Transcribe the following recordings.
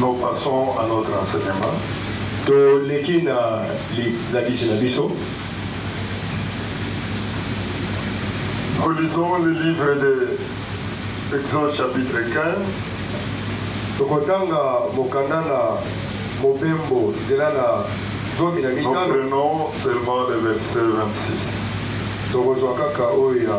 Nous passons à notre enseignement. toleki na lisalisi na biso Nous lisons le livre de Exode chapitre 15. tokotanga mokanda na mobembo nzela na zomi na Nous mitano prenons seulement le verset 26. tokozwa kaka oyo ya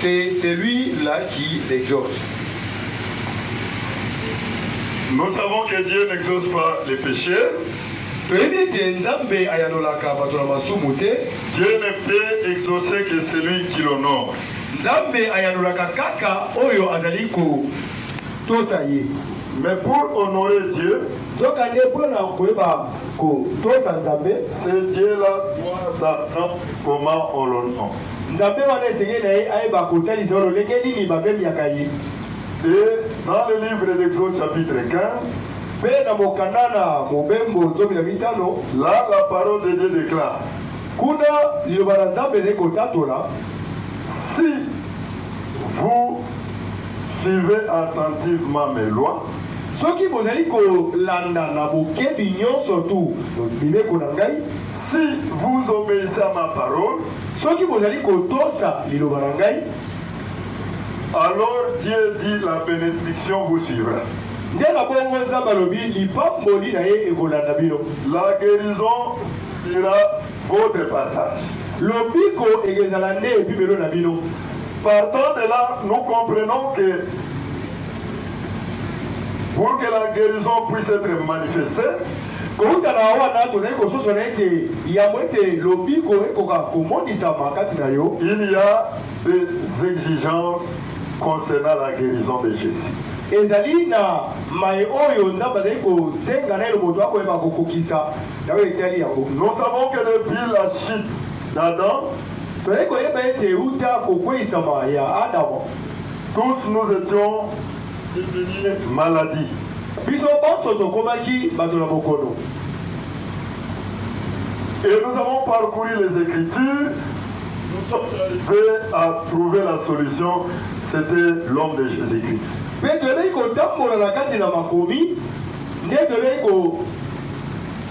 C'est celui là qui exauce. Nous savons que Dieu n'exauce pas les péchés. toyebi ete nzambe ayanolaka bato na masumu te dieu ne peut exaucer que celui qui l'honore nzambe ayanolaka kaka oyo azali kotosa ye mais pour honorer dieu nzokande mpo na koyeba kotosa nzambe ce dieu la doit attendre comment on l'honore Nzambe wana esengeli na ye ayeba kotalisa yo lolenge nini bamemyaka ye. Et dans le livre d'Exode chapitre 15, Mpe na mokanda na Mobembo zomi na mitano, là la parole de Dieu déclare, kuna liloba na Nzambe ezali kotatola, Si vous suivez attentivement mes lois, soki bozali kolanda na bokebi nyonso tu mibeko na ngai, Si vous obéissez à ma parole, soki bozali kotosa liloba na ngai, alors Dieu dit la bénédiction vous suivra. nde na bongo Nzambe alobi lipamboli na ye ekolanda bino. La guérison sera votre partage. Lobiko ekezala nde ebimelo na bino. Partant de là, nous comprenons que pour que la guérison puisse être manifestée, Kouta na wana, tozali kososola ete yambo ete lobiko ekoka komonisama kati na yo, Il y a des exigences concernant la guerison de Jesus. ezali na maye oyo Nzambe azali kosenga naino moto akoyeba kokokisa na oyo etali yango. Nous savons que depuis la chute d'Adam, Tozali koyeba ete uta kokweisama ya Adama, tous nous étions Devenir maladie. Biso banso tokomaki bato na bokono. Et nous avons parcouru les Écritures. Nous sommes arrivés à trouver la solution. C'était l'homme de Jésus-Christ. Mpe toyebaki kotambola na kati na makomi nde toyebaki ko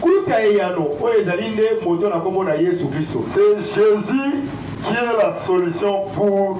kuta eyano oyo ezali nde moto na nkombo na yesu kristo C'est Jésus qui est la solution pour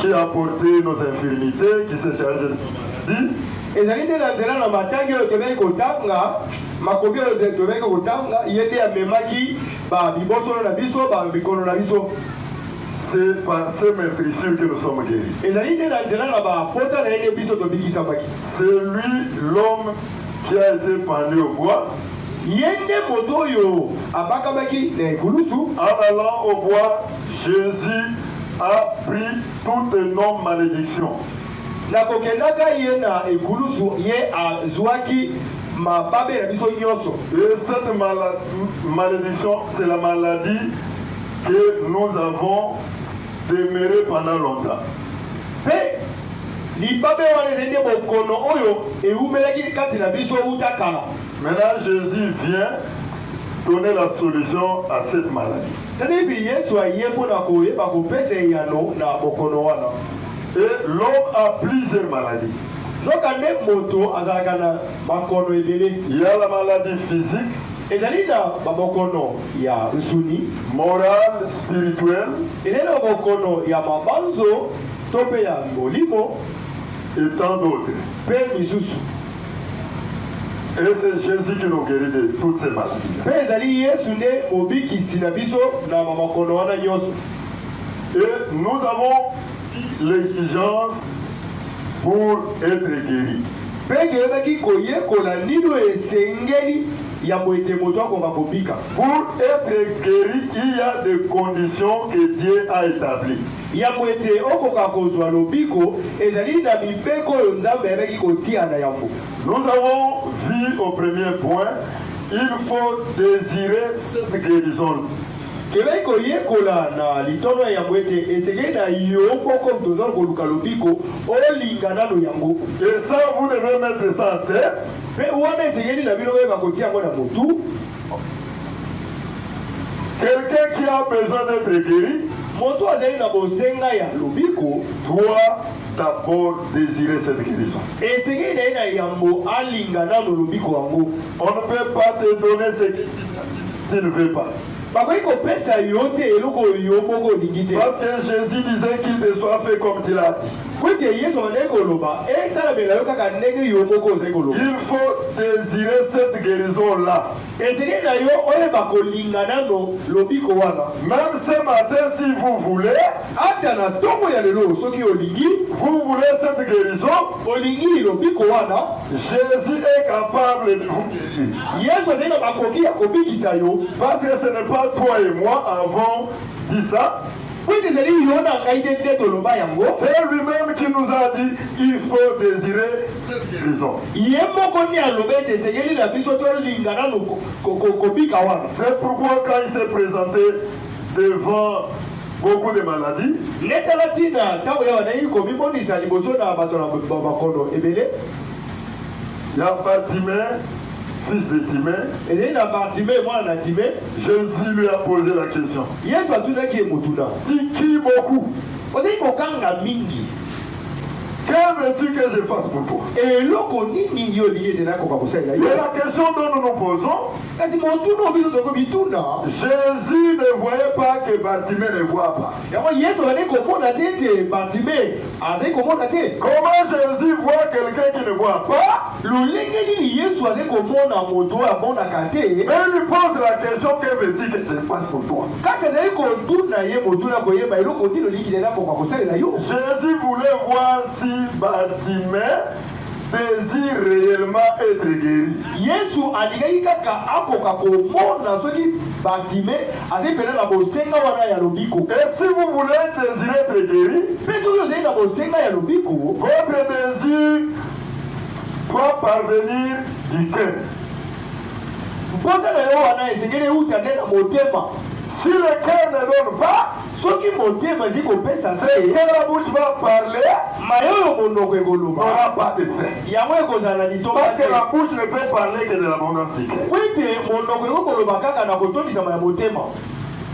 qui a porté nos infirmités, qui s'est chargé de maladies. ezali nde na nzela na matangi oyo tobeki kotanga makomi oyo tobeki kotanga ye nde amemaki babibosono na biso bamikono na biso c'est par ces meurtrissures que nous sommes guéris. ezali nde na nzela na bapota na ye nde biso tobikisamaki C'est lui l'homme qui a été pendu au bois. ye nde moto oyo abakamaki na ekulusu En allant au bois, Jesus a pris toutes nos maledictions. Na kokendaka ye na ekulusu, ye azuaki mababe na biso nyonso. Et cette mala- m- malédiction, c'est la maladie que nous avons demeurée pendant longtemps. Mpe libabe wana ezali nde bokono oyo ewumelaki kati na biso uta kala. Maintenant, Jésus vient donner la solution à cette maladie. Sasa hivi Yesu aye mpo na koyeba kopesa eyano na bokono wana. Et l'homme a plusieurs maladies. Nzokande moto azalaka na makono ebele. Il y a la maladie physique. Ezali na babokono ya nsuni. Morale, spirituelle. Ezali na bokono ya mabanzo to mpe ya molimo. Et tant d'autres. Mpe misusu. Et c'est Jésus qui nous guérit de toutes ces maladies. Mpe ezali Yesu nde mobikisi na biso na makono wana nyonso. Et nous avons l'exigence pour être guéri. Mpe toyebaki koyekola nini oyo esengeli yambo ete moto akoka kobika. Pour être guéri, il y a des conditions que Dieu a établies. Yambo ete okoka kozwa lobiko, ezali na mibeko oyo Nzambe ayebaki kotia na yambo. Nous avons vu au premier point, il faut desirer cette guerison. Toyebaki koyekola na litono ya yambo ete esengeli na yo moko moto ozali koluka lobiko, olinga nano yango. Et ça, vous devez mettre ça en tete. Mpe wana esengeli na bino boyeba kotia yango na motu. Quelqu'un qui a besoin d'être guéri moto azali na bosenga ya lobiko doit d'abord désirer cette guérison. esengeli na ye na yambo alinga nano lobiko yango. On ne peut pas te donner ce que tu- tu ne veux pas. bakoki kopesa yo te eloko oyo yo moko olingi te Parce que Jésus disait qu'il te soit fait comme tu l'as dit. Mpo ete Yesu abandaki koloba, esalamela yo kaka ndenge yo moko ozali koloba. Il faut desirer cette guerison là. Esengeli na yo oyeba kolinga nano lobiko wana. Meme ce matin si vous voulez. Ata na ntongo ya lelo soki olingi. Vous voulez cette guerison. Olingi lobiko wana. Jésus est capable de vous guérir. Yesu azali na makoki ya kobikisa yo. Parce que ce n'est pas toi et moi avons dit ça. Mpo ete ezali yo na ngai te nde toloba yango. C'est lui-même qui nous a dit il faut desirer cette guérison. Ye moko nde alobi ete esengeli na biso tolinga nanu kobika wana. C'est pourquoi quand il s'est présenté devant beaucoup de maladies. Nde tala ntina ntango ye abandaki komimonisa liboso na bato na bakono ebele. Ya Bartime fils de Timée. Ezali na Bartimee, mwana na Timee. Jésus lui a posé la question. Yesu atunaki ye motuna. Tu cries beaucoup. Ozali koganga mingi. Que veux-tu que je fasse pour toi? Eloko nini yo olingi ete nakoka kosalela yo? Mais la question dont nous nous posons, Kasi motuna oyo biso tokomituna. Jésus ne voyait pas que Bartimée ne voit pas. Yango Yesu abandaki komona te ete Bartime azali komona te? Comment Jésus voit quelqu'un qui ne voit pas? Lolenge nini Yesu azali komona moto oyo amonaka te? Mais lui pose la question que veux-tu que je fasse pour toi? Kasi azali kotuna ye motuna koyeba eloko nini olingi nde nakoka kosalela yo? Jésus voulait voir si Bartime Désire reellement etre gueri. Yesu alingaki kaka akoka komona soki Bartime azali mpenza na bosenga wana ya lobiko. Et si vous voulez désire etre gueri. Mpe soki ozali na bosenga ya lobiko. Votre désire doit parvenir du cœur. Mposa na yo wana esengeli euta nde na motema. Si le cœur ne donne pas. soki motema ezali kopesa se la bouche va parler maye oyo monoko ekoloba n'aura pas de fin yango ekozala na litomba parce que la bouche ne peut parler que de l'abondance du cœur po ete monoko ekoki koloba kaka na kotondisama ya motema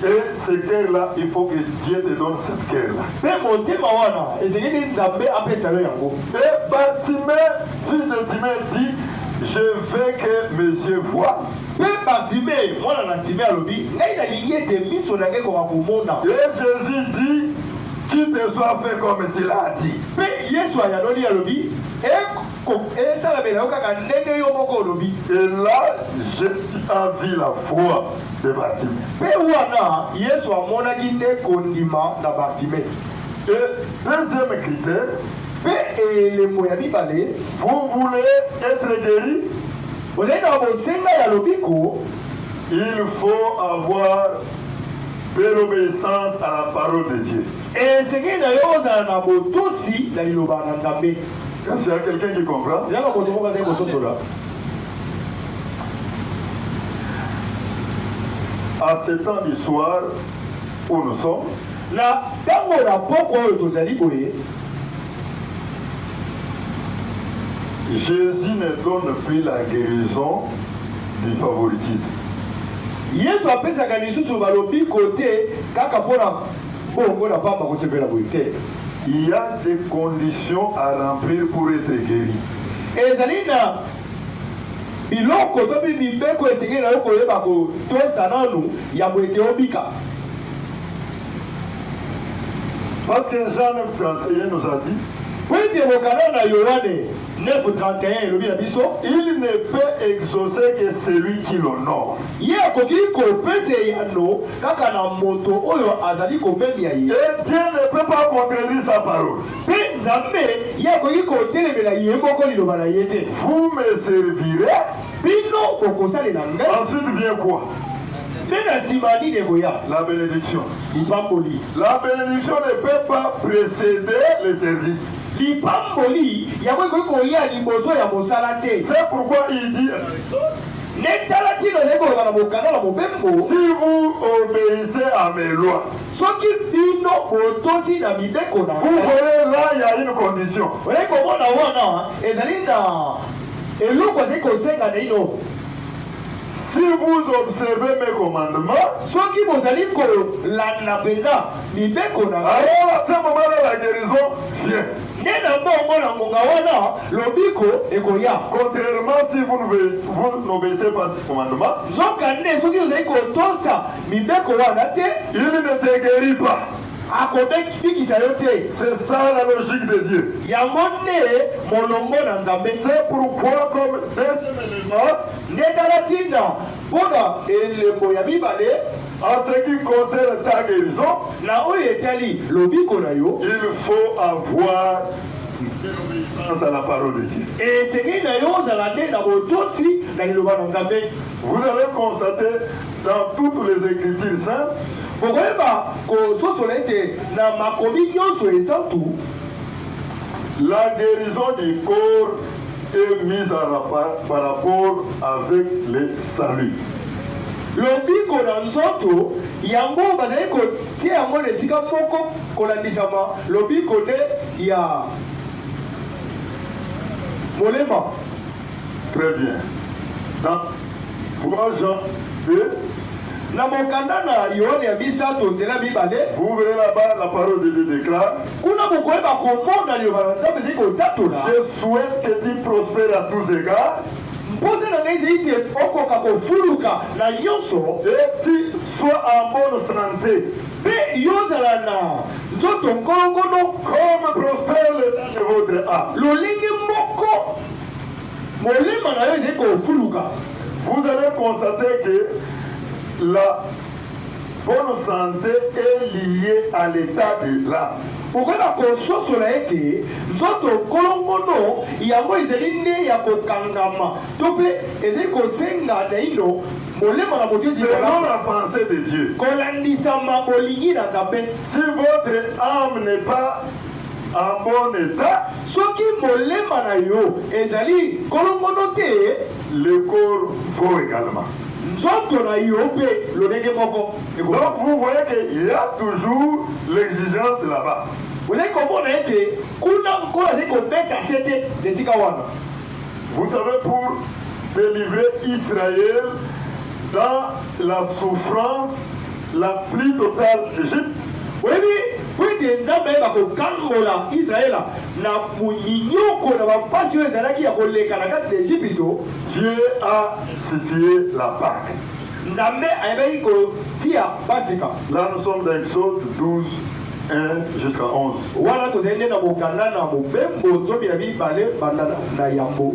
Et ce cœur-là, il faut que Dieu te donne ce cœur-là. mpe motema wana ezali nde nzambe apesa yo yango Et Bartimée, fils de Timée, dit Je veux que mes yeux voient. Mpe Bartime, mwana na Time, alobi, Ngai nalingi ete miso na ngai ekoka komona. Et Jesus dit, Qu'il te soit fait comme tu l'as dit. Mpe Yesu ayanoli, alobi, Eko, ko, esalamela yo kaka ndenge yo moko olobi. Et là, Jesus a vu la foi de Bartime. Mpe wana, Yesu amonaki nde kondima na Bartime. Et deuxième critère, Mpe elembo ya mibale, Vous voulez etre gueri? Ozali na bosenga ya lobiko? Il faut avoir de l'obeissance à la parole de Dieu. Esengeli na yo ozala na botosi na liloba na Nzambe. Est-ce qu'il y a quelqu'un qui comprend? Eza na moto moko azali kososola. À ce temps du soir où nous sommes, Na ntango na pokwa oyo tozali boye, Jesus ne donne plus la guerison du favoritisme. Yesu apesaka lisusu balobiko te kaka mpo na bongo na pamba kosepela boye te. Il y a des conditions à remplir pour être guéri. Ezali na biloko to mpe mibeko esengeli na yo koyeba kotosa nanu yambo ete obika. Parce que Jean 9.31 nous a dit Mpo ete mokanda na Yoane 9.31 elobi na biso, Il ne peut exaucer que celui qui l'honore. ye akoki kopesa eyano kaka na moto oyo azali komemya ye, Et Dieu ne peut pas contredire sa parole. mpe Nzambe ye akoki kotelemela ye moko liloba na ye te. Vous me servirez. Bino bokosalela ngai. Ensuite vient quoi Mpe na nsima nini ekoya? La benediction. Lipamboli. La benediction ne peut pas précéder le service. Lipamboli yango ekoki koya liboso ya mosala te. C'est pourquoi il dit nde tala ntina ozali koloba na mokanda na mobembo si vous obéissez à mes lois soki bino botosi na mibeko na vous voyez là il y a une condition oye komona wana ezali na eloko azali kosenga naino Si vous observez mes commandements, soki bozali kolanda mpenza mibeko na ngai, alors à ce moment-là la guérison vient. Nde na bongo na ngonga wana lobiko ekoya. Contrairement si vous n'obéissez pas ces commandements, nzokande soki ozali kotosa mibeko wana te, il ne te guérit pas. akobikisa yo te. C'est ça la logique de Dieu. Yango nde molongo na Nzambe. C'est pourquoi comme deuxième élément, nde tala ntina mpo na elembo ya mibale en ce qui concerne ta guérison, na oyo etali lobiko na yo, il faut avoir l'obéissance à la parole de Dieu. esengeli na yo ozala nde na botosi na liloba na Nzambe. Vous allez constater dans toutes les Ecritures saintes, bokoyeba kososola ete na makomi nyonso esantu, la guerison du corps est mise en rapport par rapport avec le salut. lobiko na nzoto yango bazali kotia yango na esika moko kolandisama lobiko nde ya molema. Très bien. Dans trois jours de Na mokanda na Yoane ya misato, nzela mibale, vous verrez là-bas la parole de Dieu déclare kuna bokoyeba komona liloba na Nzambe ezali kotatola, Je souhaite que tu prospères à tous égards mposa na ngai ezali ete okoka kofuluka na nyonso, et tu sois en bonne santé, mpe yo ozala na nzoto nkolongono, comme prospère l'état de votre âme. lolenge moko Molema na yo ezali kofuluka. Vous allez constater que la bonne santé est liée à l'état de l'âme. Okoyeba kososola ete nzoto kolongono yango ezali nde ya kokangama to mpe ezali kosenga naino molema na moto ezala Selon la pensée de Dieu, kolandisama bolingi na Nzambe. si votre âme n'est pas En bon etat, soki molema na yo ezali kolongono te. Le corps vaut egalement. Nzoto na yo mpe lolenge moko eko. Donc vous voyez que il ya toujours l'exigence là-bas. Ozali komona ete kuna Nkolo azali kobeta sete na esika wana. Vous savez pour delivrer Israël dans la souffrance La pluie totale d'Egypte. Boyebi, mpo ete Nzambe ayeba kokangola Yisraele na monyoko na bampasi oyo ezalaki ya koleka na kati na Ejipito, Dieu a institue la Pake. Nzambe ayebaki kotia Pasika. Là nous sommes dans Exode 12, 1 jusqu'à 11. Wana tozali nde na mokanda na Mobembo zomi na mibale, banda na yambo.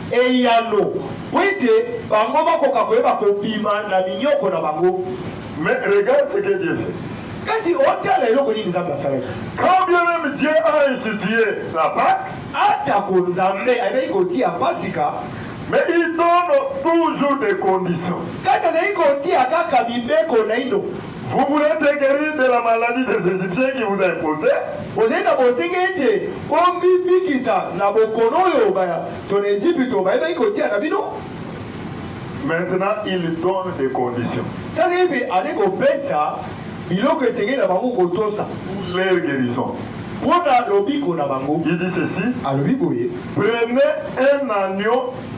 Eyano, Mpo ete bango bakoka koyeba kobima na minyoko na bango. Mais regarde ce que Dieu fait. Kasi otala eloko nini Nzambe asalaki. Quand bien meme Dieu a institue la Pake. Atako Nzambe ayebaki kotia Pasika. Mais il donne toujours des conditions. Kasi azali kotia kaka mibeko naino. Vous voulez être guéri de la maladie des Égyptiens qui vous a imposé? Ozali na bosengi ete omibikisa na bokono oyo bato na Ezipito bayebaki kotia na bino? Maintenant, il donne des conditions. Sasa hivi azali kopesa biloko esengeli na bango kotosa Pour leur guérison. mpo na lobiko na bango. Il dit ceci, alobi boye Prenez un agneau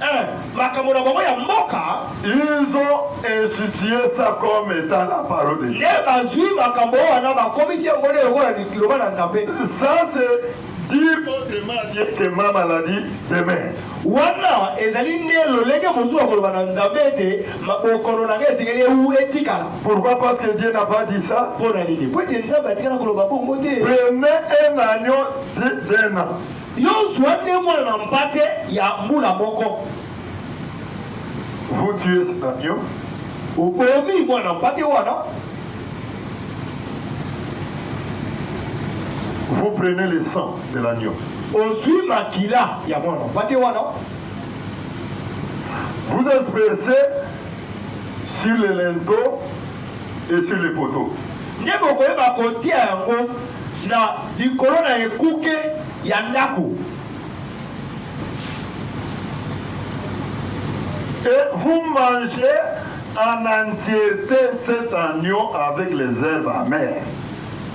Eh, makambo na bango ya mboka ils ont institué ça comme étant la parole de Dieu. nde bazwi makambo wana bakomisi yango nde lokola liloba na nzambe Ça c'est dire autrement à Dieu que ma maladie demain. wana ezali nde lolenge mosusu ya koloba na nzambe ete ma- bokono na ngai esengeli ewu etikala Pourquoi Parce que Dieu n'a pas dit ça. mpo na nini mpo ete nzambe atikala koloba bongo te Prenez un agneau d'un an. Yo zua nde mwana mpate ya mbula moko. Vous tuez cet agneau. Obomi mwana mpate wana. Vous prenez le sang de l'agneau. Ozui makila ya mwana mpate wana. Vous aspersez sur les linteaux et sur les poteaux. Nde bokoyeba kotia yango na likolo na ekuke ya ndako. Et vous mangez en entièreté cet agneau avec les herbes amères.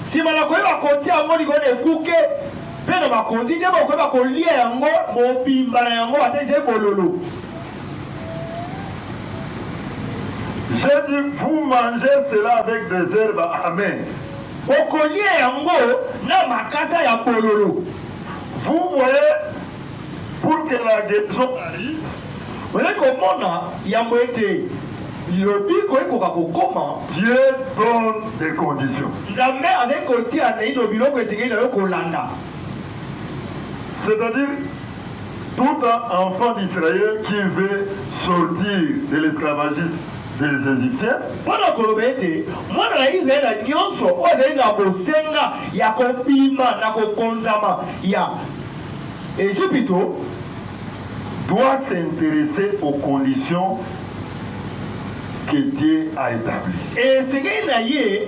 nsima na koyeba kotia yango likolo na ekuke mpe na bakonzi nde bokoyeba kolia yango mobimba na yango ata ezali bololo J'ai dit, vous mangez cela avec des herbes amères. Okolia yango na makasa ya bololo. Vous voyez pour que la guérison arrive, Oye komona yambo ete lobiko ekoka kokoma, Dieu donne des conditions. Nzambe azali kotia naino biloko esengeli na yo kolanda. C'est-à-dire, Tout enfant d'Israël qui veut sortir de l'esclavagisme des Egyptiens, Mpo na koloba ete mwana na Yisraele nyonso oyo azali na bosenga ya kobima na kokonzama ya Ezipito, doit s'interesser aux conditions que Dieu a etabli. esengeli na ye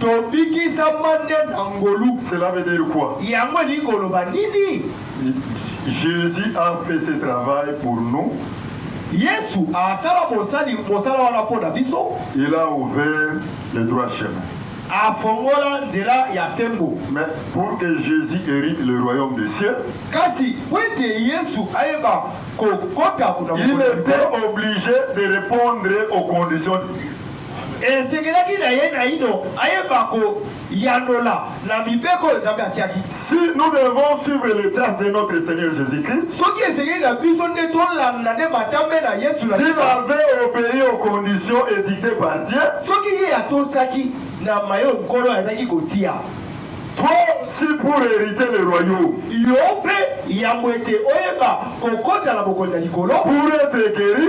Tobikisama nde na ngolu. Cela veut dire quoi? Yango elingi koloba nini? Jesus a fait ce travail pour nous. Yesu asala mosali mosala wana mpo na biso. Il a ouvert le droit chemin. Afongola nzela ya sembo. Mais pour que Jésus hérite le royaume des cieux, kasi mpo ete Yesu ayeba kokota kuna il était obligé de répondre aux conditions Esengelaki na ye naino ayeba koyanola na mibeko oyo Nzambe atiaki. Si nous devons suivre les traces de notre Seigneur Jesus-Christ, Soki esengeli na biso nde tolanda nde matambe na Yesu na s'il biso, avait obéi aux conditions édictées par Dieu, soki ye atosaki na maye Nkolo ayaki kotia, toi aussi pour hériter le royaume, yo mpe yambo ete oyeba kokota na bokonzi ya likolo, pour être guéri,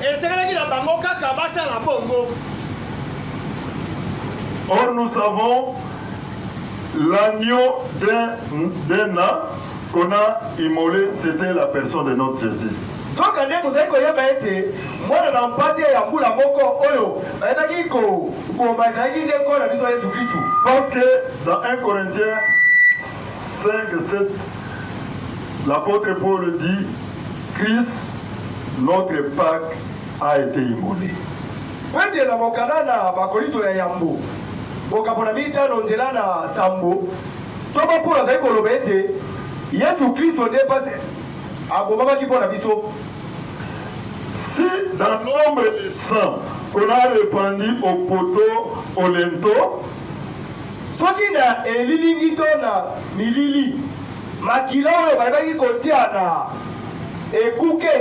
Esengelaki na bango kaka basala bongo. Or, nous savons l'agneau d'un an qu'on a immolé, c'était la personne de notre Jésus. nzoka nde tozali koyeba ete mwana na mpate ya mbula moko oyo bayebaki kobomba ezalaki nde nkolo na biso yesu kristu parce que dans 1 corinthiens 5 7 l'apôtre paul dit Chris notre Paque a ete immole. Pete na mokanda na Bakolinto ya Yambo, mokapo na mitano, nzela na sambo, ntoma Polo azali koloba ete Yesu Klisto nde mpasi abomamaki mpo na biso. Si dans nombre de sang qu'on a repandu au poteau au linteau. Soki na elilingi to na milili. Makila oyo balingaki kotia na ekuke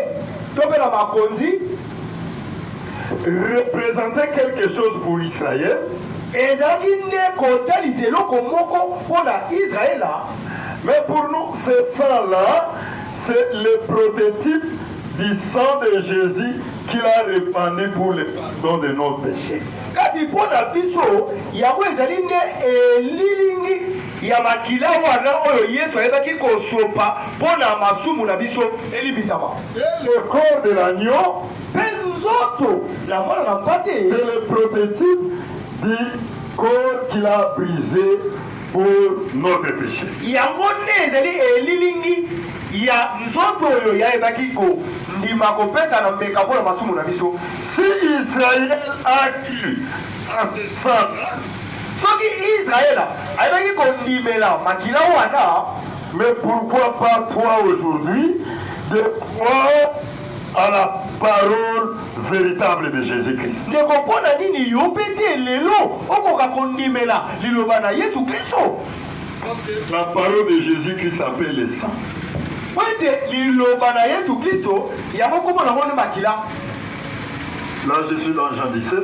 to mpe na makonzi. Représentait quelque chose pour l'Israël. Ezalaki nde kotalisa eloko moko mpo na Israela. Mais pour nous, ce sang-là, c'est le prototype du sang de Jésus qu'il a répandu pour le pardon de nos péchés. Kasi mpo na biso, yango ezali nde elilingi ya makila wana oyo Yesu ayebaki kosopa mpo na masumu na biso elimbisama. Et le corps de l'agneau, Mpe nzoto na mwana na mpate c'est le prototype du corps qu'il a brisé pour notre péché. yango nde ezali elilingi ya nzoto oyo yayebaki kondima kopesa na mbeka mpo na masumu na biso. Si Israël a cru à ce sang-là, Soki Israël ayebaki kondimela makila wana. Mais pourquoi pas toi aujourd'hui de croire à la parole veritable de Jésus-Christ? Ndeko mpo na nini yo mpe te lelo okoka kondimela liloba na Yesu Klisto? Parce que la parole de Jésus-Christ s'appelle le sang. Mpo ete liloba na Yesu Klisto yango nkombo na yango nde makila. Là, je suis dans Jean 17.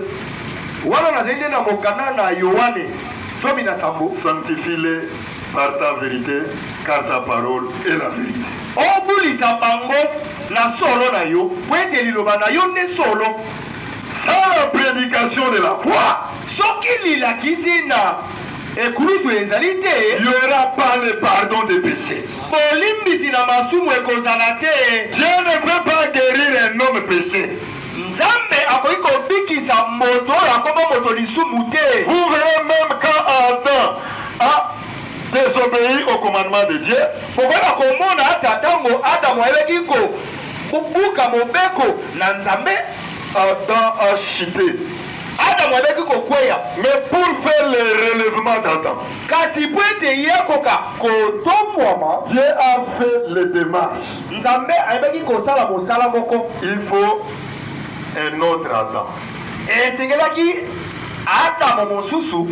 Wana nazali nde na mokanda na Yoane, zomi na sambo. Sanctifie-les par ta verite, car ta parole est la verite. Obulisa bango na solo na yo, mpo ete liloba na yo nde solo. Sans la prédication de la foi, soki lilakisi na ekulusu ezali te, il n'y aura pas le pardon des péchés. Bolimbisi na masumu ekozala te. Dieu ne peut pas guérir un homme péché. Nzambe akoki kobikisa moto oyo akoma moto lisumu te. Vous verrez meme quand Adam a desobei au commandement de Dieu. Bokoyeba komona ata tango Adam ayebaki ko buka mobeko na Nzambe. Adam a chute. Adam ayebaki kokweya. Mais pour faire le relèvement d'Adam. Kasi po ete ye akoka kotombwama. Dieu a fait les demarches. Nzambe ayebaki kosala mosala moko. Il faut un autre Adam. Esengelaki Adamo mosusu.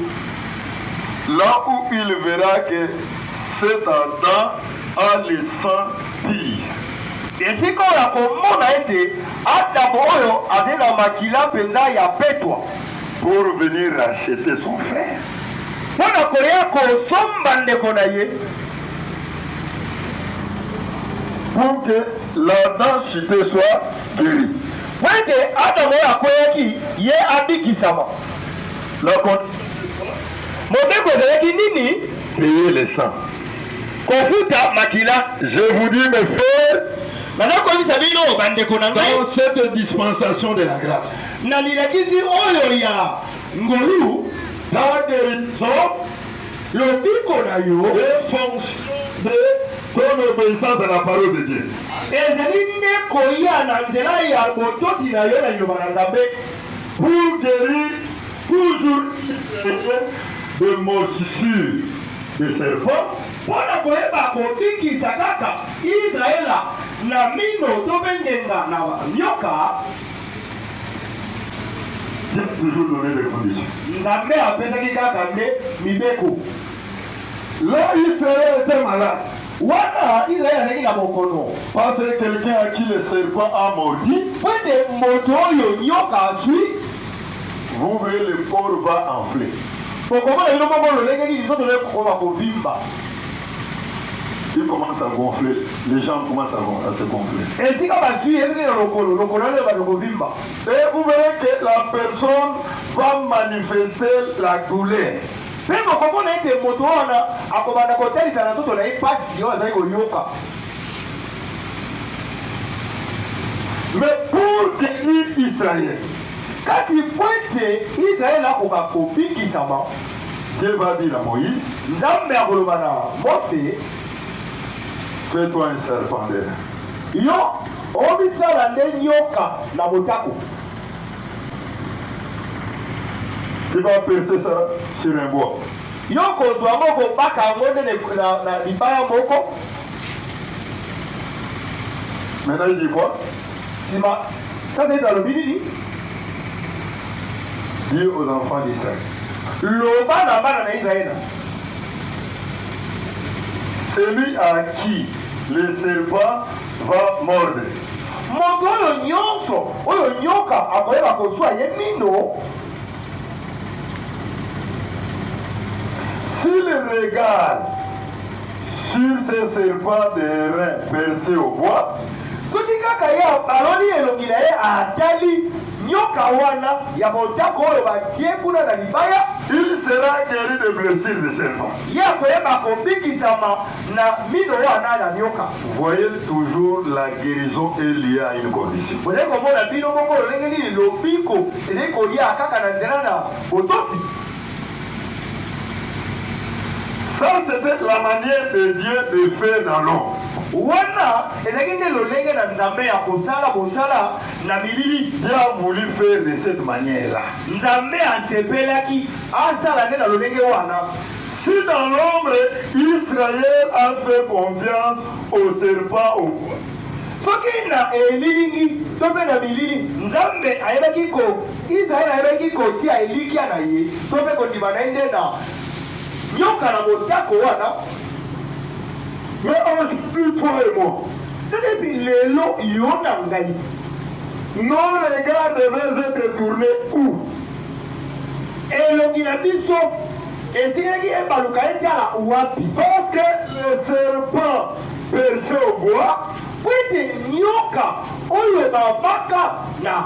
Là où il verra que cet Adam a le sang pur. Esika oyo akomona ete Adamo oyo azali na makila mpenza ya petwa. Pour venir racheter son frère. Mpo na koya kosomba ndeko na ye. pour que l'ardent chute soit guéri. Mpo ete Adamu oyo akweyaki ye abikisama. La Mobeko ezalaki nini? Payer le sang. Kofuta makila. Je vous dis mes frères, naza koyebisa bino bandeko na ngai dans cette dispensation de la grâce, na lilakisi oyo ya ngolu, ta guérison Lobiko na yo. En fonction de ton obeissance à la parole de Dieu. Ezali nde koya na nzela ya botosi na yo na liloba na Nzambe. Pour guérir toujours Israël de morsissure de serpent. Mpo na koyeba kobikisa kaka Israël na mino to mpe ngenga na nyoka. nzambe apesaki kaka nde mibeko la israel était malade wana israel azalaki na bokono parce que quelqu'un à qui le serpent a mordi po ete moto oyo nyoka aswi vous verrez le corps va enfler bokomona bino moko lolenge nini nzoto naye kokoma kovimba Il commence à gonfler, les gens commencent à, à se gonfler. Et si on va suivre, le lokolo, lokolo, le va le vimba. Et vous verrez que la personne va manifester la douleur. mpe bokomona ete moto wana akobanda kotalisa na nzoto na ye mpasi oyo azali koyoka mais pour guérir israël kasi mpo ete israele akoka kobikisama Dieu va dire à Moïse. Nzambe akoloba na Mose. Fais-toi un serpent de lin. Yo omisala nde nyoka na motako. Tu vas percer ça sur un bois. Yo kozwa yango kobaka yango nde na libaya moko. Maintenant il dit quoi? Sima, Kasaito alobi nini? Dis aux enfants d'Israël. Loba na bana na Israël. Celui à qui le serpent va mordre. Moto oyo nyonso oyo nyoka akoyeba koswa ye mino. S'il regarde Sur ce serpent de rein perce au bois, soki kaka ye aloni elongi na ye atali nyoka wana ya motako oyo batie kuna na libaya, il sera gueri des blessures de serpent. ye akoyeba kobikisama na mino wana na nyoka. Voyez toujours la guerison est liee à une condition. Bozali komona bino moko lolenge nini lobiko ezali koya kaka na nzela na botosi? Ça, c'était la manière de Dieu de faire dans l'homme. wana ezalaki nde lolenge na nzambe ya kosala bosala na bilili Dieu a voulu faire de cette manière-là. nzambe asepelaki asala nde na lolenge wana Si dans l'ombre, Israël a fait confiance au serpent au bois, soki na elilingi to mpe na bilili nzambe ayebaki ko Yisraele ayebaki kotia elikya na ye to mpe kondima na ye nde na nyoka na motako wana. Mais aujourd'hui, toi et moi, Sasa hivi lelo yo na ngai nos regards devaient être tournés où elongi na biso esilaki ebaluka etala wapi? Parce que le serpent perché au bois, Mpo ete nyoka oyo babaka na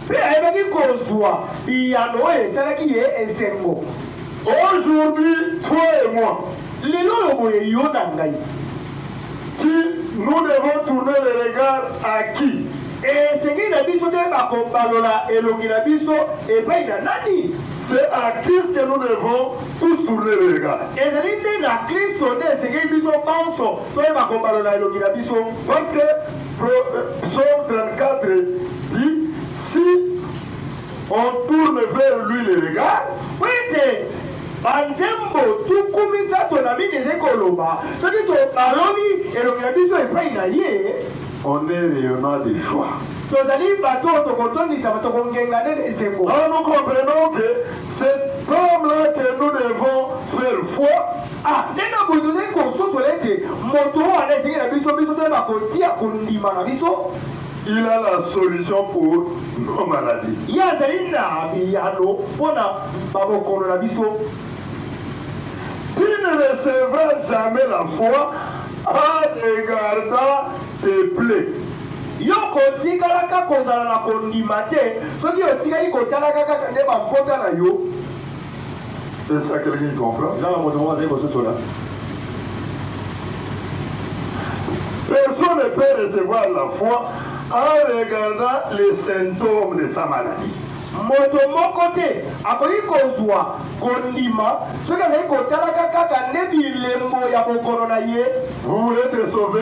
Mpe ayebaki kozua biyano oyo esalaki ye esengo. Aujourd'hui toi et moi. Lelo oyo boye yo na ngai. Si nous devons tourner le regard à qui? Esengeli na biso toyeba kobalola elongi na biso epai na nani? C'est à Christ que nous devons tous tourner le regard. Ezali nde na Klisto nde esengeli biso banso toyeba kobalola elongi na biso. Parce que Psaume 34 dit si on tourne vers lui le regard, ete banzembo tuku misato na mingi ezali koloba soki tobaloli elongi na biso epai na ye on est rayonnant de joie. tozali bato oyo tokotondisama tokongenga nde na esengo Alors nous comprenons que cet homme-là que nous devons faire foi, A Ndenge na boye, tozali kososola ete moto oyo wana esengeli na biso biso toyeba kotia kondima na biso. Il a la solution pour nos maladies. Ye azali na biyano mpo na babokono na biso. Tu ne recevras jamais la foi en regardant tes plaies. Yo okotikalaka kozala na kondima te soki otikali kotalaka kaka nde bampota na yo. Est-ce qu'il y a quelqu'un qui comprend? Eza na moto moko azali kososola? Personne ne peut recevoir la foi en regardant les symptômes de sa maladie. moto moko te akoki kozwa kondima soki azali kotalaka kaka nde bilembo ya bokono na ye Vous voulez être sauvé?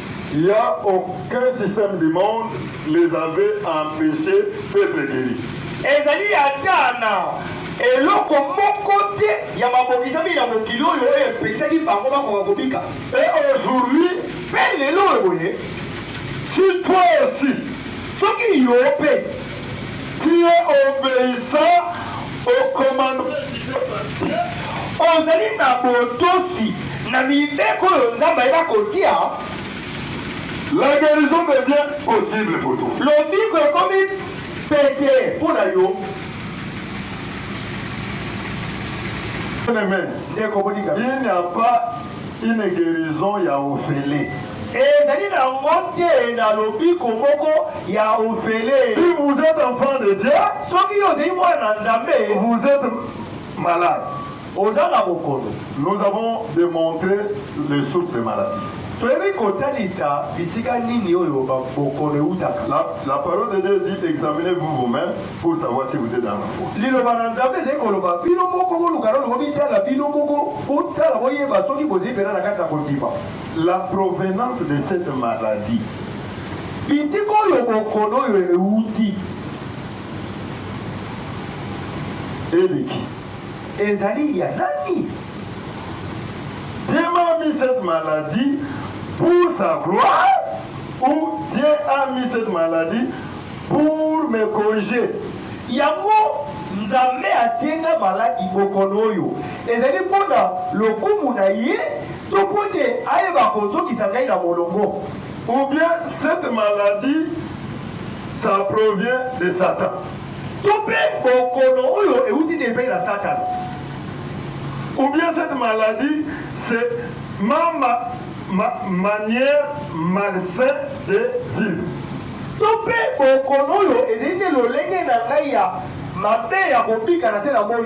Il ya aucun système du monde les avait empeche d'etre gueris. Ezali ata na eloko moko te ya mabongisami na mokili oyo oyo epekisaki bango bakoka kobika. Et aujourd'hui. Mpe lelo oyo boye. Si toi aussi. Soki yo mpe. Tu es obeissant au commandement ozali na botosi na mibeko oyo Nzambe ayeba kotia. La guérison devient possible pour toi. Lobiko ekomi pete mpo na yo. Bien-aimé, Ndeko moninga, il n'y a pas une guérison ya ofele. Ezali na ngo te na lobiko moko ya ofele. Si vous êtes enfant de Dieu, soki yo ozali mwana na Nzambe, vous êtes malade. Oza na bokono. Nous avons démontré les sources des maladies. toyebi kotalisa bisika nini oyo bokono eutaka la, la parole de dieu dit examinez vous vous-même pour savoir si vous êtes dans la foi liloba na nzambe ezali koloba bino moko boluka loloko bitala bino moko botala boyeba soki bozali mpena na kati ya kondima la provenance de cette maladie bisika oyo bokono oyo euti eleki ezali ya nani Dieu m'a mis cette maladie pour sa gloire ou Dieu a mis cette maladie pour me corriger yango nzambe atie nga maladi bokono oyo ezali mpo na lokumu na ye To mpo te ayeba kozongisa ngai na molongo. Ou bien cette maladie ça provient de Satan. To mpe bokono oyo euti te epai na Satana. Ou bien cette maladie c'est ma, ma, ma manière malsaine de vivre. To mpe bokono oyo ezali te lolenge na ngai ya mabe ya kobika na se na moi.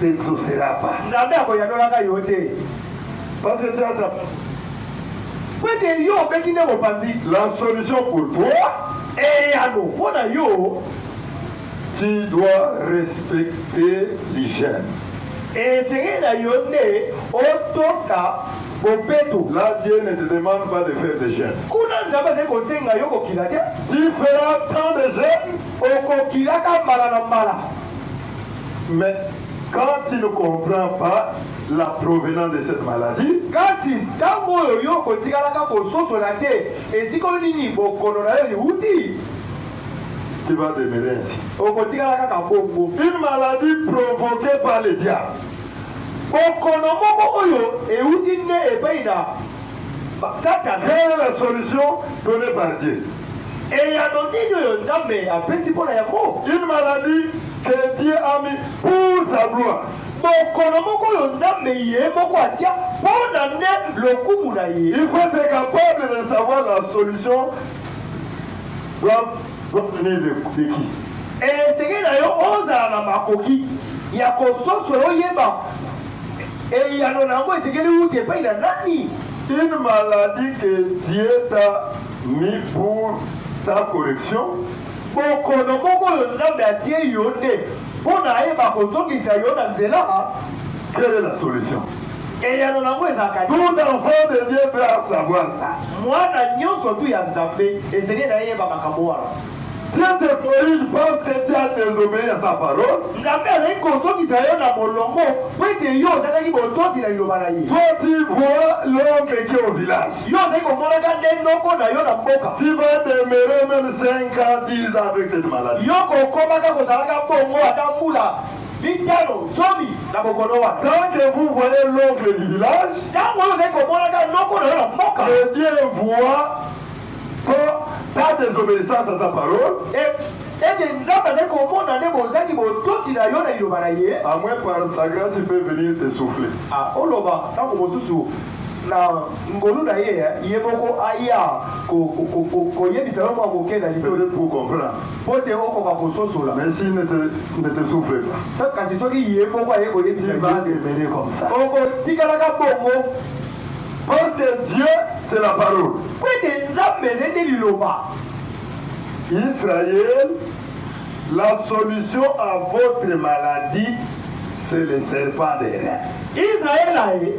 s'exaucera pas. Nzambe akoyanolaka yo te. Parce que tu as ta mpo ete yo obeti nde mopanzi. La solution pour toi. Eyano mpo na yo. Tu dois respecter l'hygiène. Esengeli na yo nde otosa bopeto. Là, Dieu ne te demande pas de faire des jeûnes. Kuna Nzambe azali kosenga yo kokila te. Tu feras tant de jeûnes. Okokilaka mbala na mbala. Mais quand tu ne comprends pas la provenance de cette maladie, kasi ntango oyo yo okotikalaka kososola te esika oyo nini bokono na yo liuti tu vas demeurer ainsi. okotikala kaka bongo Une maladie provoquée par le diable. bokono moko oyo euti nde epai na ba- satana Quelle est la solution donnée par Dieu Eyano nini oyo Nzambe apesi mpo na yango? Une maladie que Dieu a mis pour sa gloire. Bokono moko oyo Nzambe ye moko atia mpo na nde lokumu na ye. Il faut être capable de savoir la solution doit doit venir de, de qui. Esengeli na yo ozala na makoki ya kososola oyeba eyano na yango esengeli uta epai na nani. Une maladie que Dieu t'a ni pour ta correction. Bokono moko oyo Nzambe atie yo nde mpo na ayeba kozongisa yo na nzela. Quelle est la solution? Eyano na yango ezalaka nini? Tout enfant de Dieu doit savoir ça. Mwana nyonso tu ya Nzambe esengeli na ye yeba makambo wana. Dieu te corrige parce que tu as désobéi à sa parole. Nzambe azali kozongisa yo na molongo mpo ete yo ozalaki botosi na liloba na ye. Toi tu vois l'oncle qui est au village. Yo ozali komonaka nde noko na yo na mboka. Tu vas demeurer même 5 ans, 10 ans avec cette maladie. Yo kokomaka kozalaka bongo ata mbula mitano zomi na bokono wana. Tant que vous voyez l'oncle du village, Ntango oyo ozali komonaka noko na yo na mboka, le Dieu voit Ko ta desobedissance à sa parole. ete Nzambe azali komona nde bozangi botosi na yo na liloba na ye. A moins par sa grâce il peut venir te souffler. Ah, oloba ntango mosusu na ngolu na ye ye moko aya koyebisa yo mwa moke na likolo mpo te okoka kososola kasi soki ye moko aye koyebisa okotikalaka bongo Parce que Dieu c'est la parole. Mpo ete Nzambe ezali nde liloba. Israël, la solution à votre maladie, c'est le serpent des reins. Israël aye,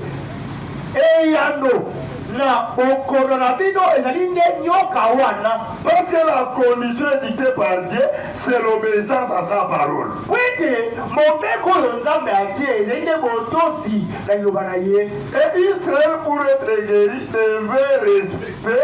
eyano na bokono na bino ezali nde nyoka wana. Parce que la condition édictée par Dieu, c'est l'obéissance à sa parole. Mpo ete mobeko oyo Nzambe atie ezali nde botosi na liloba na ye. Et Israël pour être guéri devait respecter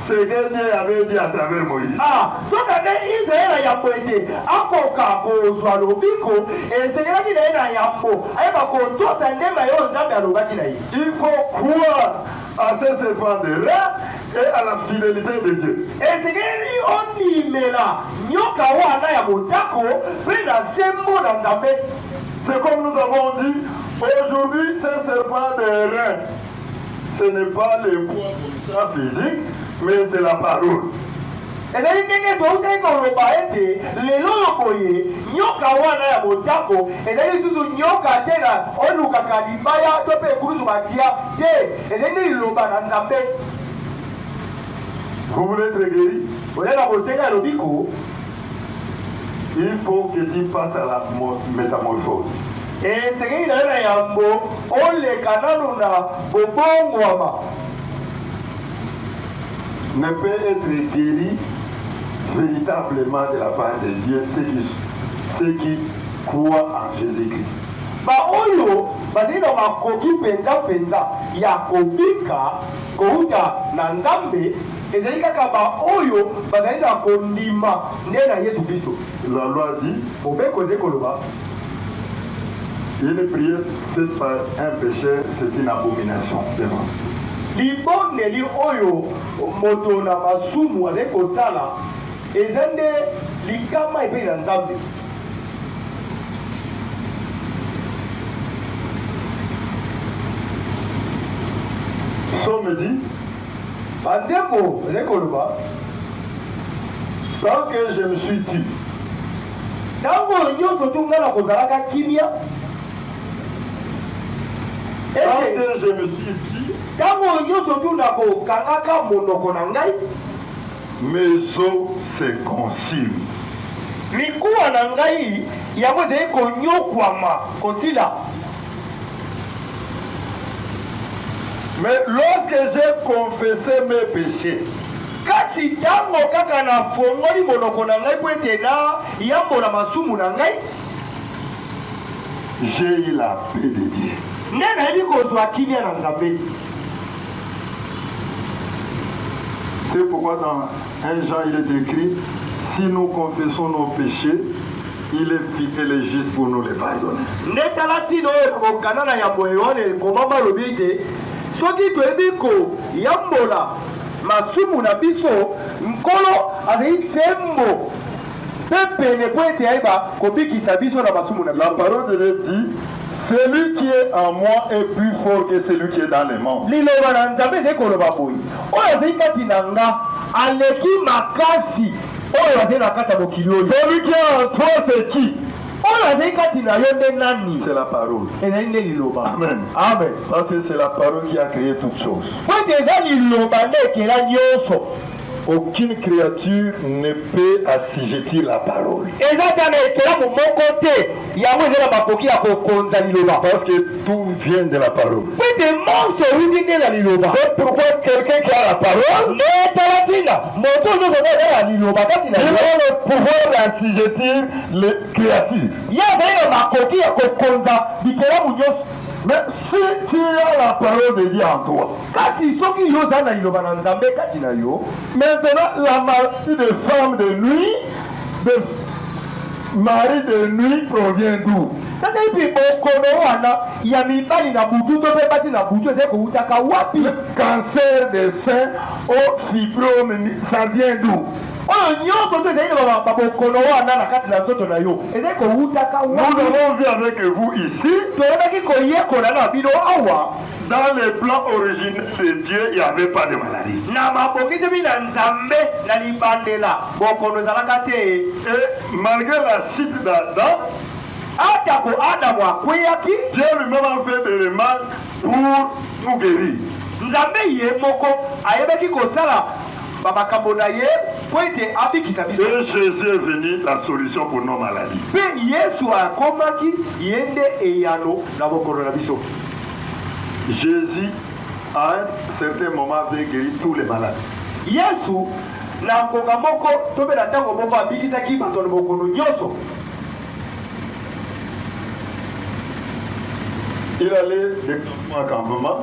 ce que Dieu avait dit à travers Moïse. Ah, soka nde Israël ayambo ete akoka kozwa lobiko esengelaki na ye na yambo ayeba kotosa nde maye oyo Nzambe alobaki na ye. Il faut croire à ce serpent de rat et à la fidélité de Dieu. Esengeli ondimela nyoka wana ya motako mpe na sembo na Nzambe. C'est comme nous avons dit, aujourd'hui ce serpent de rein, ce n'est pas le bois comme ça physique, mais c'est la parole. ezali ndenge toutaki koloba ete lelo oyo boye nyoka wana ya motako ezali lisusu nyoka te na olukaka libaya to mpe ekulusu batia te ezali nde liloba na nzambe Vous voulez être guéri? olela kosenga ya lobiko Il faut que tu passes à la métamorphose. Esengeli na yo na yambo oleka nano na bobongwama. Ne peut être guéri véritablement de la part de Dieu ceux qui, ceux qui croient en Jésus-Christ. baoyo bazali na makoki mpenza mpenza ya kobika kouta na nzambe Ezali kaka ba oyo bazali na kondima nde na Yesu Klisto. La loi dit. Mobeko ezali koloba. Une prière faite par un pecheur c'est une abomination devant libondeli oyo moto na masumu azali kosala eza nde likama epai na nzambe somedi Ba nzembo ezali koloba tant que je me suis dit ntango oyo nyonso tu ngai nakozalaka kimia Tant que je me suis dit ntango oyo nyonso tu nakokangaka monoko na ngai mes os se consument. mikuwa na ngai yango ezali konyokwama kosila Mais lorsque j'ai confessé mes péchés, kasi ntango kaka nafongoli monoko na ngai mpo ete nayambola masumu na ngai j'ai eu la paix de Dieu. nde nayebi kozwa kimia na nzambe C'est pourquoi dans 1 Jean il est écrit si nous confessons nos péchés il est fidèle et juste pour nous les pardonner. nde tala ntina oyo ekokana na yambo ya yohane ekomama alobi ete soki toyebi koyambola masumu na biso nkolo azali sembo mpe pene mpo ete ayeba kobikisa biso na masumu na biso. La parole de Dieu dit, Celui qui est en moi est plus fort que celui qui est dans les monts. Liloba na Nzambe ezali koloba boye, oyo azali kati na nga aleki makasi oyo azali na kati ya mokili oyo. Celui qui est en toi, c'est qui? oyo azali kati na yo nde nani c'est la parole ezali nde liloba amen amen parce que c'est la parole qui a créé toutes choses po ete eza liloba nde ekela nyonso Aucune creature ne peut assujettir la parole. eza ata na ekelamu moko te yango eza na makoki ya kokonza liloba Parce que tout vient de la parole. mpo ete monso euti nde na liloba C'est pourquoi quelqu'un qui a la parole, nde tala ntina moto oyo nyonso nde aza na liloba kati na il ye a le pouvoir d'assujettir les créatures. ye azali na makoki ya kokonza bikelamu nyonso Mais si tu as la parole de Dieu en toi, Kasi soki yo oza na liloba na Nzambe kati na yo. Maintenant la maladie de femme de nuit de mari de nuit provient d'où? Sasa hivi bokono wana ya mibali na butu to mpe basi na butu ezali kowutaka wapi? Le cancer de sein au fibrome ça vient d'où? oyo nyonso nde ezali na babokono wana na kati na nzoto na yo ezali kowutaka wapi? Nous avons vu avec vous ici. Toyebaki koyekola na bino awa. Dans le plan originel de Dieu, il n'y avait pas de maladie. Na mabongisami na Nzambe na libandela, bokono ezalaka te. Et malgré la chute d'Adam, atako Adamu akweyaki, Dieu lui-même a fait des remarques pour nous guérir. Nzambe ye moko ayebaki kosala ba makambo na ye mpo ete abikisa biso. Et Jésus est venu la solution pour nos maladies. Mpe Yesu akomaki ye nde eyano na bokono na biso. Jesus à un certain moment avait guéri tous les malades. Yesu na ngonga moko to mpe na ntango moko abikisaki bato na bokono nyonso. Il allait de campement en campement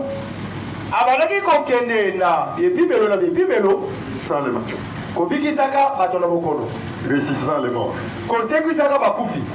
Abandaki kokende na bibimelo na bibimelo, sans les malades, kobikisaka bato na bokono, ressuscitant les morts. kosekwisaka bakufi.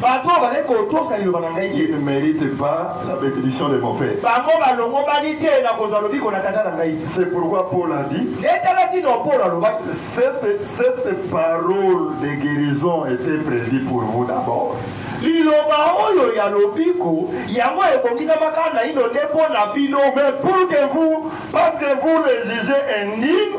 Bato oyo bazali kotosa liloba na ngai te. Ils ne meritent pas la benediction de mon Père. Bango balongobani te na kozwa lobiko na Tata na ngai. C'est pourquoi Paul a dit, Nde tala ntina oyo Paulo alobaki, cette, cette parole de guérison était prévue pour vous d'abord. liloba oyo ya lobiko yango ebongisamaka naino nde mpo na bino Mais pour que vous, parce que vous les jugez indignes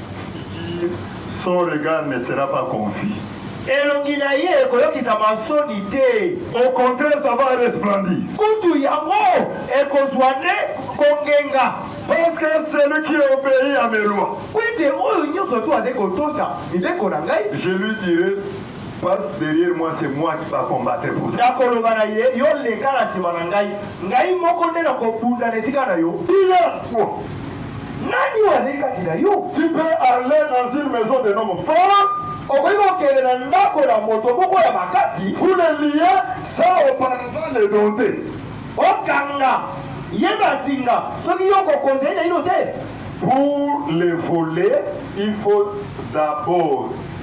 son regard ne sera pas confus. Elongi na ye ekoyokisama nsoni te. Au contraire, ça va resplendir. Kutu yango ekozwa nde kongenga. Parce que celui qui obéit à mes lois. Mpo ete oyo nyonso tu azali kotosa mibeko na ngai. Je lui dirai. passe derrière moi c'est moi qui va combattre pour nakoloba na ye yo leka na nsima na ngai ngai moko nde nakobunda na esika na yo nani oyo azali kati na yo tu peux aller dans une maison de homme fort okoki kokende na ndako na moto moko ya makasi pour le lier sans auparavant le dompter okanga ye bazinga soki yo kokonza ye naino te pour le voler il faut d'abord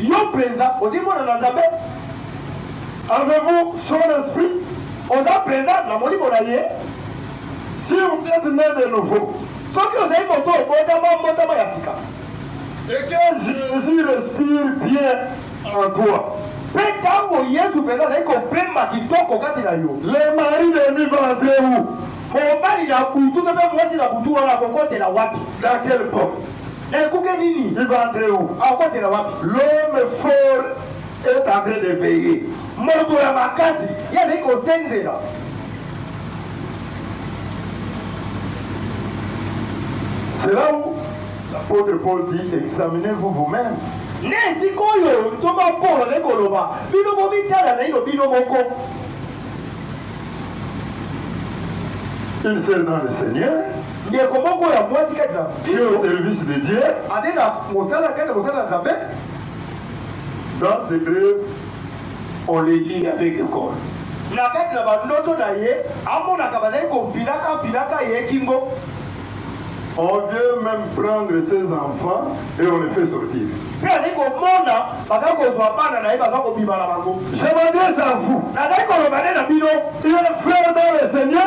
Yo penza ozi mwana na Nzambe? Avez-vous son esprit? Oza penza na molimo na ye? Si vous êtes né de nouveau. Soki ozali moto obotama mbotama ya sika. Et que Jésus respire bien en toi. Mpe ntango Yesu mpenza azali kopema kitoko kati na yo. Le mari de nuit va entrer où? Mobali na butu to mpe mwasi na butu wana akokotela wapi? Dans quelle porte? Ekuke nini? Il va entrer où? Akotela wapi? L'homme fort est en train de veiller. Moto ya makasi ye azali kosenzela. C'est là où l'apôtre Paul dit examinez-vous vous-même. Na esika oyo ntoma Paulo azali koloba bino bomitala naino bino moko. Une sœur dans le Seigneur. ndeko moko ya mwasi kati na Au service de Dieu, azali na mosala kati na mosala na Nzambe. Dans ses rêves, on les lit avec le corps. Na kati na bandoto na ye amonaka bazali kofinaka finaka ye kingo. On vient même prendre ses enfants et on les fait sortir. Mpe azali komona baza kozwa bana na ye baza kobima na bango. Je m'adresse à vous. Nazali koloba nde na bino. Il est frère dans le Seigneur.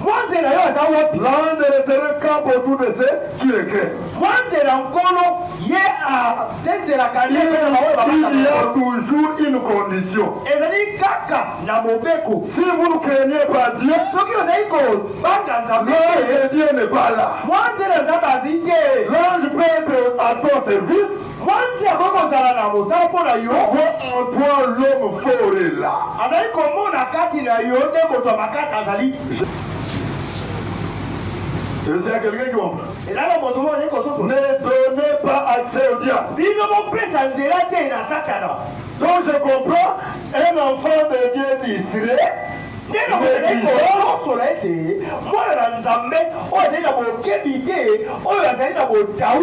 Mwanze na yo aza wapi? Lande le terrain camp autour de ce qui le crée. Mwanze na nkolo ye asenzelaka nde mpe na baoyo babanda Il y a mokolo. toujours une condition. Ezali kaka na mobeko. Si vous ne craignez pas Dieu, Soki ozali kobanga Nzambe l'ange te, de Dieu n'est pas là. mwanze na Nzambe azali te. L'ange peut être à ton service, Mwanje akoki kozala na mosala mpo na yo. Voit en toi l'homme fort et là. Azali komona kati na yo nde moto ya makasi azali. Est-ce qu'il y a quelqu'un qui comprend eza na moto moko azali kososo Ne donnez pas accès au diable. bino bopesa nzela te na satana Donc je comprends, un enfant de Dieu distrait nde na kozali kososola ete mwana na nzambe oyo azali na bokebi te oyo azali na botau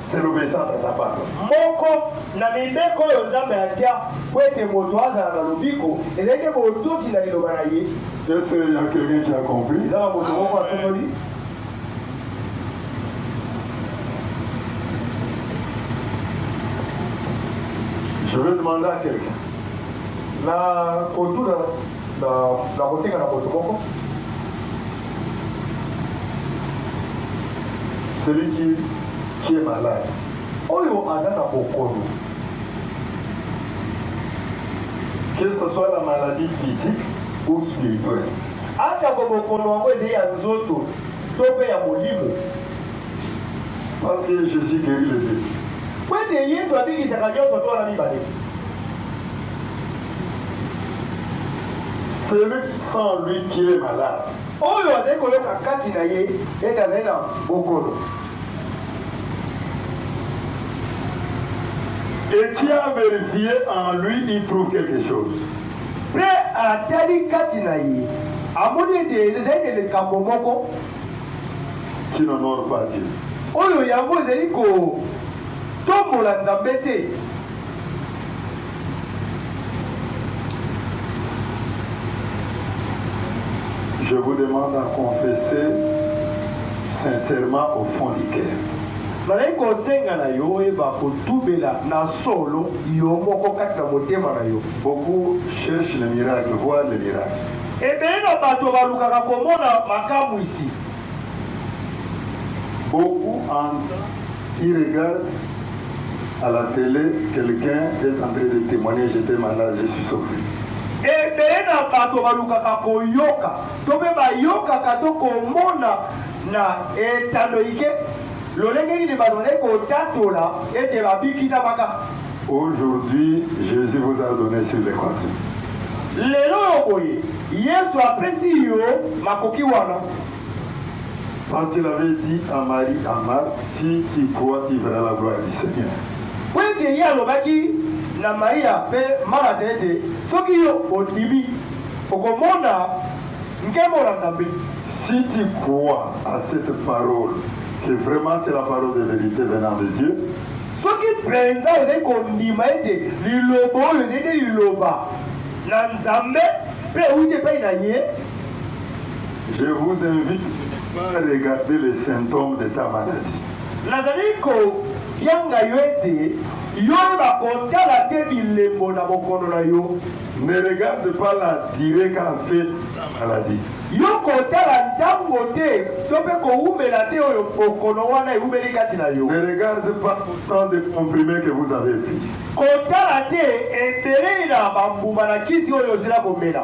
C'est l'obéissance à sa part. moko na mibeko oyo nzambe atya mpo ete moto azala na lobiko ezali nde botosi na liloba na ye Est-ce qu'il y a quelqu'un qui a compris eza na moto moko asosoli Je vais demander à quelqu'un. na kotuna na na kosenga na moto moko celui qui, qui est malade oyo aza na bokono que ce soit la maladie physique ou spirituelle atako bokono yango ezali ya nzoto to mpe ya molimo parce que jésus guéri le deux po ete yesu abikisaka nyonso to wana mibale Celui qui sent en lui qu'il est malade. oyo azali koyoka kati na ye ete azali na bokono. Et qui a vérifié en lui, il trouve quelque chose. mpe atali kati na ye amoni ete ezali na likambo moko Qui n'honore pas Dieu. oyo yango ezali kotombola nzambe te Je vous demande à confesser sincèrement au fond du cœur. nazali kosenga na yo oyeba kotubela na solo yo moko kati na motema na yo beaucoup cherche le miracle voir le miracle ebele na bato balukaka komona makamwisi beaucoup en Qui regarde à la tele quelqu'un est en train de temoigner j'etais malade je suis sauve. Ebele na bato balukaka koyoka to mpe bayokaka to komona na etando ike lolenge nini bato bazali kotatola ete babikisamaka. Aujourd'hui, Jésus vous a donné sur l'équation. Lelo oyo boye Yesu apesi yo makoki wana. Parce qu'il avait dit à Marie, à Marthe, si tu crois, tu verras la gloire du Seigneur. mpo ete ye alobaki na maria mpe marata ete soki yo ondimi okomona nkembo na nzambe Si tu crois à cette parole, que vraiment c'est la parole de vérité venant de Dieu, soki mpenza ozali kondima ete liloba oyo ezali nde liloba na nzambe mpe euti epai na ye Je vous invite à regarder les symptômes de ta maladie. Nazali kobyanga yo ete yo oyeba kotala te bilembo na bokono na yo. Ne regarde pas la durée qu'a fait ta maladie. Yo kotala ntango te to mpe kowumela te oyo bokono wana ewumeli kati na yo. Ne regarde pas autant de comprimés que vous avez pris. Kotala te ebele na bambuma na kisi oyo ozila komela.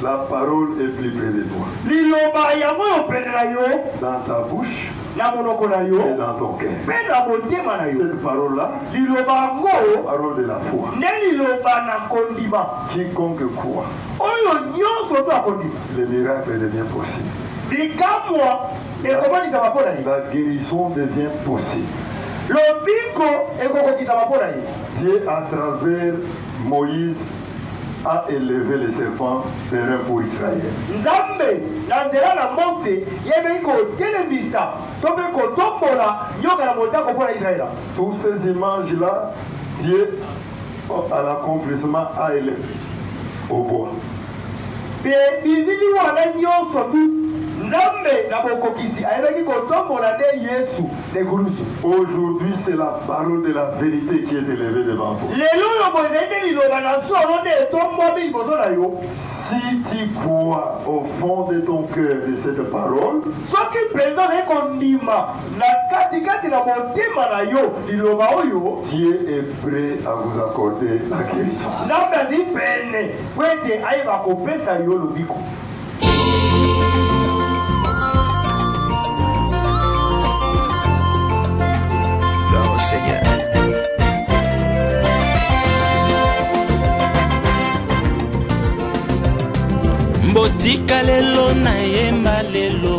La parole est plus près de toi. Liloba yango oyo pene na yo. Dans ta bouche. Na monoko na yo. Et dans ton cœur. Mpe na motema na yo. Cette parole là. Liloba yango. Parole de la foi. Nde liloba na kondima. Quiconque croit. Oyo nyonso oyo akondima. Le miracle devient possible. Bikamwa ekomonisama mpo na ye. La guérison devient possible. Lobiko ekokokisama mpo na ye. Dieu à travers Moïse a eleve le serpent perun pour Israël. Nzambe, na nzela na Mose, yebei kotelemisa to mpe kotombola nyoka na motako mpo na Israël. Tous ces images là, Dieu à l'accomplissement a eleve au bois. Mpe bilili wana nyonso tu, Nzambe na bokokisi ayebaki kotombola nde Yesu na ekulusu. Aujourd'hui c'est la parole de la verite qui est elevee devant toi. Lelo oyo boye ezali nde liloba na solo nde etombwami liboso na yo. Si tu crois au fond de ton cœur de cette parole, soki mpenza ozali kondima na katikati na motema na yo liloba oyo, Dieu est prêt à vous accorder la guérison. Nzambe azali pene Mpo ete ayeba kopesa yo lobiko. botika lelo na yemba lelo